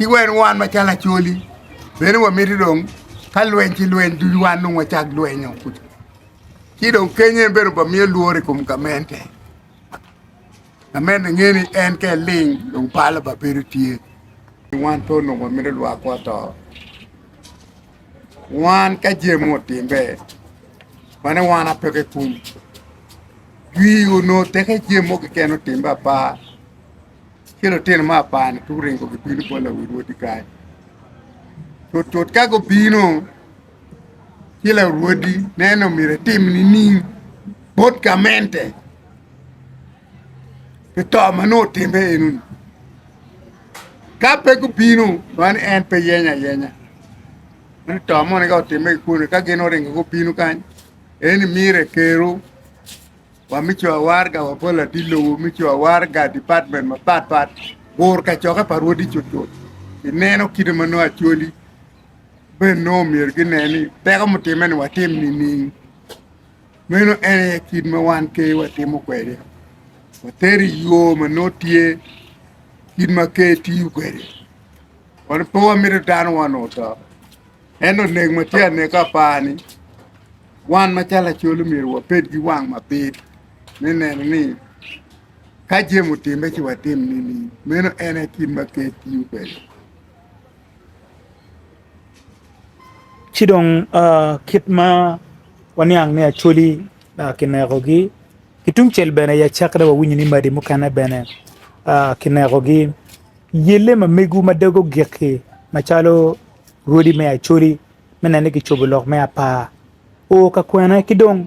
Ki wen wan macalo Acholi bene wamiti dong ka lweny ci lweny ducu wan dong wacak lwenyo ci dong kenyo en bene obamiyo lworo i kom gamente, gamente nge ni en ka eling dong palo ba bedo tye. Wan pe onongo wamito lwakwa oto, wan ka jami otimbe wane wan ape kikum, dwi onongo teke jami mo keken otimbe apa. ki lutino me apar-ni pe guringo gibino bot lawi rwodi kany. Tutut ka gubino ci larwodi neno myero etim nining bot gamente pi to ma nongo otimme eno-ni. Ka pe gubino man en pe yeny ayenya ni to moni ka otimme kikuni ka gin oringo gubino kany eno ni myero ekeru Wa me Cowa Waraga wa pa latin lobo me Cowa Waraga, department mapat pat, bur kacokke pa rwodi cutcut. I neno kite ma nongo Acholi ben nongo myero ginen ni teko mutimme ni watim nining? Meno en aye kit ma wan Ker watimo kwede, wateri i yo ma nongo tye kit ma Ker tiyo kwede. Wan pe wamito dano wa onongo to, ento nek ma tye aneka apani. wan macalo lacol omyero wabed ki wang mabit me neno ni ka jami otimme ci watim nining meno en aye kit ma ker tiyo kwede. Ci dong kit ma waniang ni Acholi kinekogi ki tungcel bene ya cak dong wawinyo ni madi mukene bene kinekogi yelle ma mego ma doge ogik-ki macalo rwodi me Acholi me neno ni kicobo lok me apar o ka kwene ki dong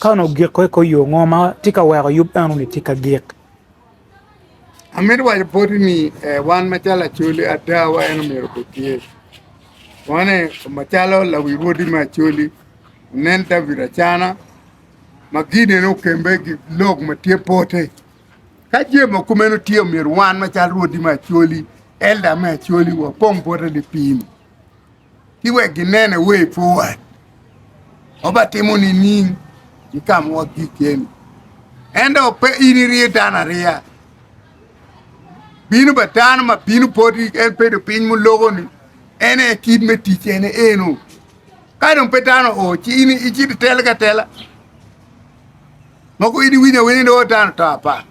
ka onongo giko i kor yo ngo ma tye ka weko yub eno ni tye ka gik. Amito waco poti ni eh, wan macalo Acholi ada wa en omyero obed tye. Wane macalo lawi wodi me Acholi onen David Acana ma Gideon okembe gi lok ma tye pote. Ka jami ma kumeno tye omyero wan macalo rwodi me Acholi, elda me Acholi wapong pote lipim. ki wek ginene way forward ma ba timo nining ki ka ma wagik keni ento pe in iriyo dano ariya bino ba dano ma bino poti en bedo piny mulogo ni en aye kit me tic ene eno ka dong pe dano o ci in icit itel ka tela mogo in iwinyo awinya ni o dano to apa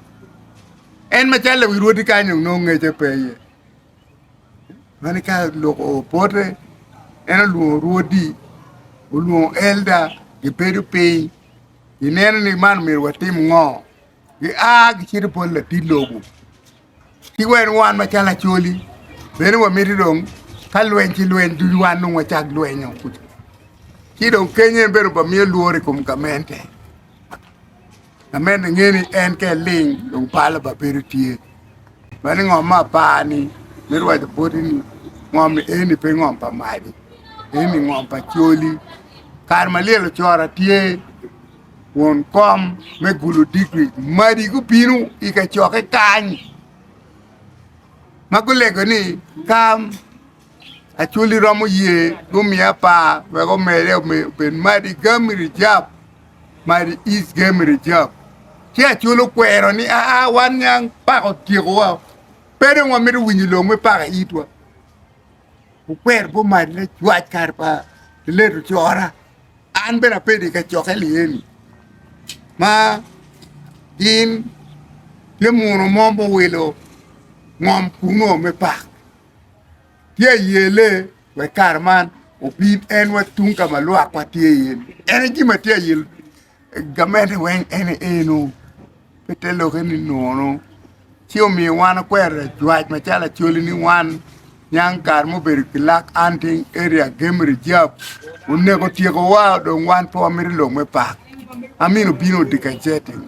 en macalo lewi rwodi kany dong nongo ngece pe iye Meno ka lok opote, en olwongo rwodi, olwongo elda, gibedo piny, gineno ni man omyero watim ngo, gia gicito bot latit lobo, ci wene wan macalo Acholi bene wamito dong ka lweny ci lweny ducu wan dong wacak lwenyo kuca, ci dong keny en bene obamiyo lworo i kom gamente. Amedde ngeyo ni en ka eling dong palo ba bedo tye. Mani ngom ma apar ni mito waco boti ni ngom ni eni pe ngom pa madi, eni ngom pa coli. Kare ma lyel ocoro atye won kom me gulu digri madi gubino i kacokke kany ma gulego ni kam Acholi romo ye gumiye apar wek omede obed Madi Game Reserve, Madi East Game Reserve. Ci Acholi okwero ni aa wan niang paka otyekowa, pe dong wamito winyo long me paka i itwa. Okwero gumad lacwac kare pa late ocora, an bene abedo i kacokke ni eni ma gin tye muno mo muwilo ngom kungo me paka. Tye ayele wek kare man obin en wa tung ka ma lwak wa tye iye ni en aye jami atye ayel gamente weng en aye eno pe te lokke ni nono ci omiyo wan wakwero lajwac macalo acholi ni wan niang kare mubedo ki lak hunting area game reserve oneko tyeko wa dong wan pe wamito lok me park amino bino odi kacel-li.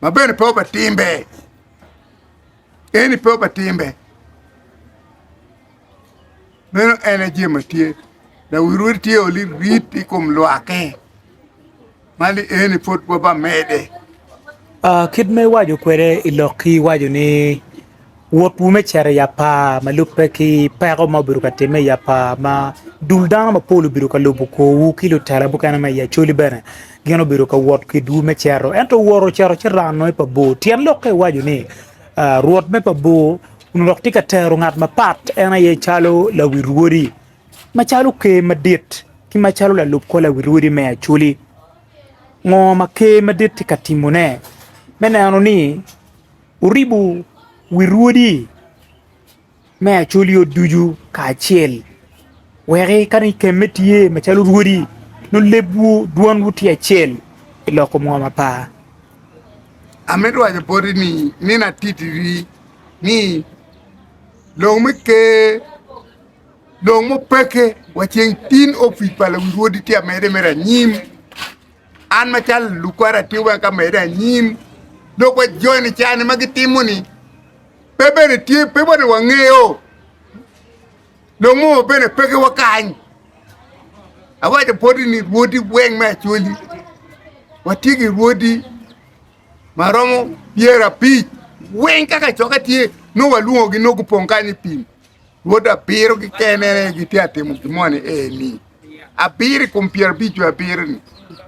ma bene pe oba timbe eni pe oba timbe meno en aye jami ma tye dok wi rwodi tye oli rit i kom lwaki ma ni eni pud waba mede. Kit ma iwaco kwede i lokki iwaco ni Wotwu me cito i apar ma lubbe ki peko ma obedo ka timme i apar ma dul dano mapol obedo ka lubo korwu ki lutela mukene ma i Acholi bene gin obedo ka wot kwedwu me cito. Ento wor ocito ci rano i pa bor. Tyen lokke iwaco ni Rwot me pa bor onongo dok tye ka tero ngat mapat en aye calo lawi rwodi, macalo Ker Madit, ki macalo lalub kor lawi rwodi me Acholi. Ngo ma Ker Madit tye ka timone me neno ni Wuribo wi rwodi me acolyo ducu kacel, wek ka ni kemme tye macalo rwodi, nongo lebwu, dwanwu tye acel i lok kom ngom apa? Amito waco boti ni, nino atitiri ni lok me Ker, lok mupeke wa ceng tin opic pa luwi rwodi tye amede mere anyim. An macalo lukwara atye wek amede anyim dok wa joni cani ma gitimo ni pe bene tye pe bene wangeyo longo bene pe ki wakany awaco poti ni rwodi weng me acoli watye ki rwodi ma romo pyera apic weng kaka coka tye nongo walwongo gi nongo gupong kany i pim Rwod abiro kikene gitye ka timo gin moni eni. Abiro i kom pyero abic jo abiro-ni,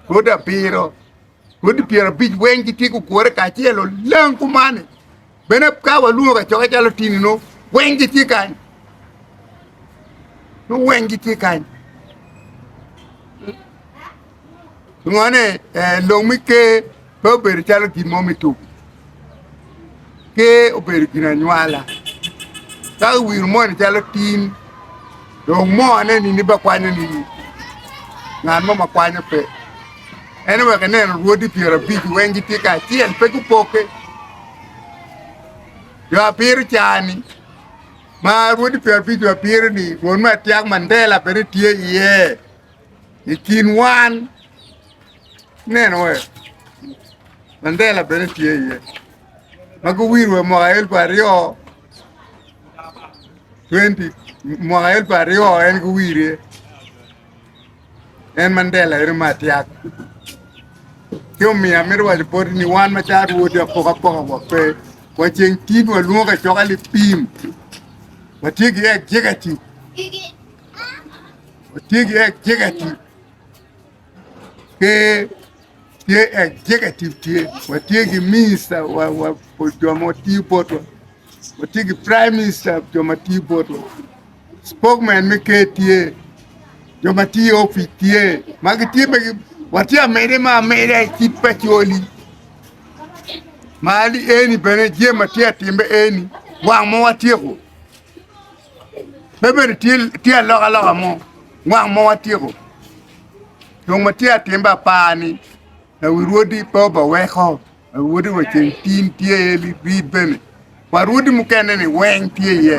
rwod abiro, rwodi pyero abic weng gitye gugure kacel olang kumani. Bene ka walwongo kacokke calo tinino, weng gitye kany. Nongo weng gitye kany. Pingo-ni? Eh, lok me Ker pe obedo calo gin mo me tuku. Ker obedo gin anywala. Ka iwiro moni calo tin, dong mone nini ba kwanyo nini? Ngat mo ma kwanyo pe. En wek ineno rwodi pyero abic weng gitye ka acel, pe gupoke. Jo apiro cani, ma rwodi pyero abic jo apiro-ni, rwod me atyak Mandela bene tye iye. I kin wan neno ee Mandela bene tye iye ma guwiro wa mwaka elfu aryo twenty mwaka elfu aryo en guwire en Mandela eno ma atyak ci omiyo amito waco poti ni wan macalo rwodi apokapoka wa pe wa ceng tin walwongo kacoka lipim watye ki executive Watye ki executive ki tye executive tye watye ki minister wa wa wa jo ma tiyo botwa watye ki prime minister jo ma tiyo botwa spokman me ker tye jo ma tiyo i opic tye ma gitye pe gi watye amede ma ameda i kit pa coli ma eni bene jami ma tye ka timme eni wang ma watyeko. pe bene tye alokaloka mo mwaka mo watyeko tung ma tye atim be apar ni lawi rwodi pe obaweko lawi rwodi wa ceng tin tye iye libid bene wa rwodi mukene ni weng tye iye